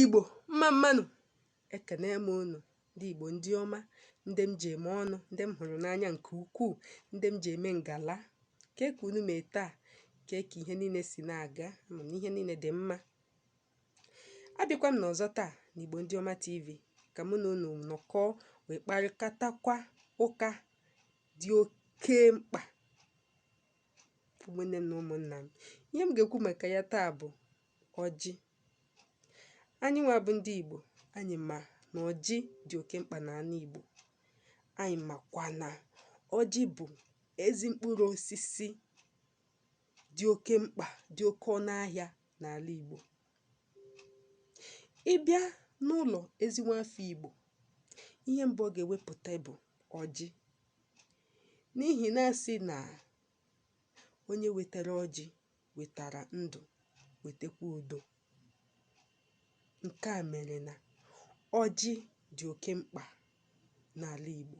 Igbo mma mma nụ, ekene m unu, ndị Igbo ndị ọma, ndị m ji eme ọnụ, ndị m hụrụ n'anya nke ukwuu, ndị m ji eme ngala. Kee ka unu mee taa, kee ka ihe niile si na-aga, ama m na ihe niile dị mma. Abịakwa m n'ọzọ taa na Igbo ndị ọma TV ka mụ na unu nọkọọ wee kparịkatakwa ụka dị oke mkpa ụmụnne m na ụmụnna m ihe m ga-ekwu maka ya taa bụ ọjị anyị nwa bụ ndị Igbo anyị ma na ọjị dị oke mkpa n'ala Igbo anyị makwa na ọjị bụ ezi mkpụrụ osisi dị oke mkpa dị oke ọnụ ahịa n'ala Igbo ị bịa n'ụlọ ezi nwafọ Igbo ihe mbụ ọ ga-ewepụta bụ ọjị N'ihi na a sị na onye wetara ọjị wetara ndụ, wetakwa udo. Nke a mere na ọjị dị oke mkpa n'ala Igbo.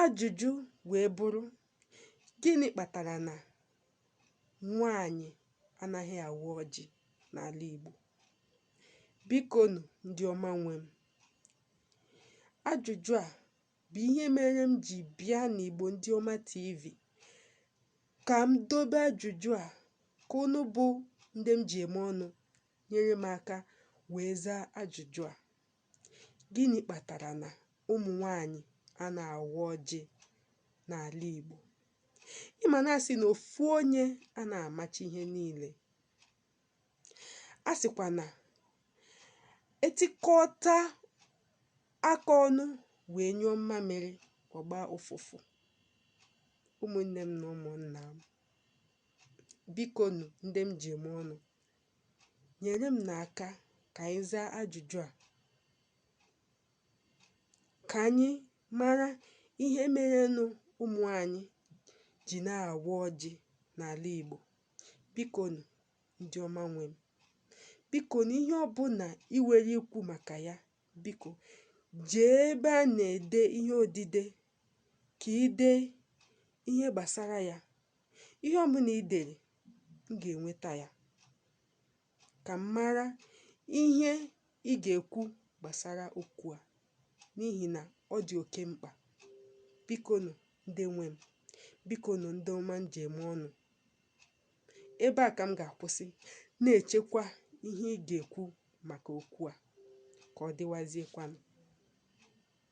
Ajụjụ wee bụrụ, gịnị kpatara na nwaanyị anaghị awa ọjị n'ala Igbo? Bikonụ, ndị ọma nwe m, Ajụjụ a bụ ihe mere m ji bịa n'Igbo Ndị Ọma TV ka m dobe ajụjụ a ka unu bụ ndị m ji eme ọnụ nyere m aka wee zaa ajụjụ a. Gịnị kpatara na ụmụ nwaanyị anaghị awa ọjị n'ala Igbo? Ị ma na a sị na ofu onye anaghị amacha ihe niile. a sịkwa na e tikọta aka ọnụ wee nyụọ mmamịrị ọ gbaa ụfụfụ ụmụnne m na ụmụnna m biko nụ ndị m ji eme ọnụ nyere m n'aka ka anyị zaa ajụjụ a ka anyị mara ihe merenụ ụmụ nwaanyị ji anaghị awa ọjị n'ala Igbo Bikonu, ndị ọma nwe m, bikonu, ihe ọbụla i nwere ikwu maka ya, biko, jee ebe a na-ede ihe odide ka i dee ihe gbasara ya. Ihe ọbụla i dere, m ga-enweta ya. ka m mara ihe ị ga-ekwu gbasara okwu a n'ihi na ọ dị oke mkpa. Bikonụ, ndị nwe m, bikonụ, ndị ọma m ji eme ọnụ, ebe a ka m ga-akwụsị, na-echekwa ihe ị ga-ekwu maka okwu a. Ka ọ dịwaziekwanụ.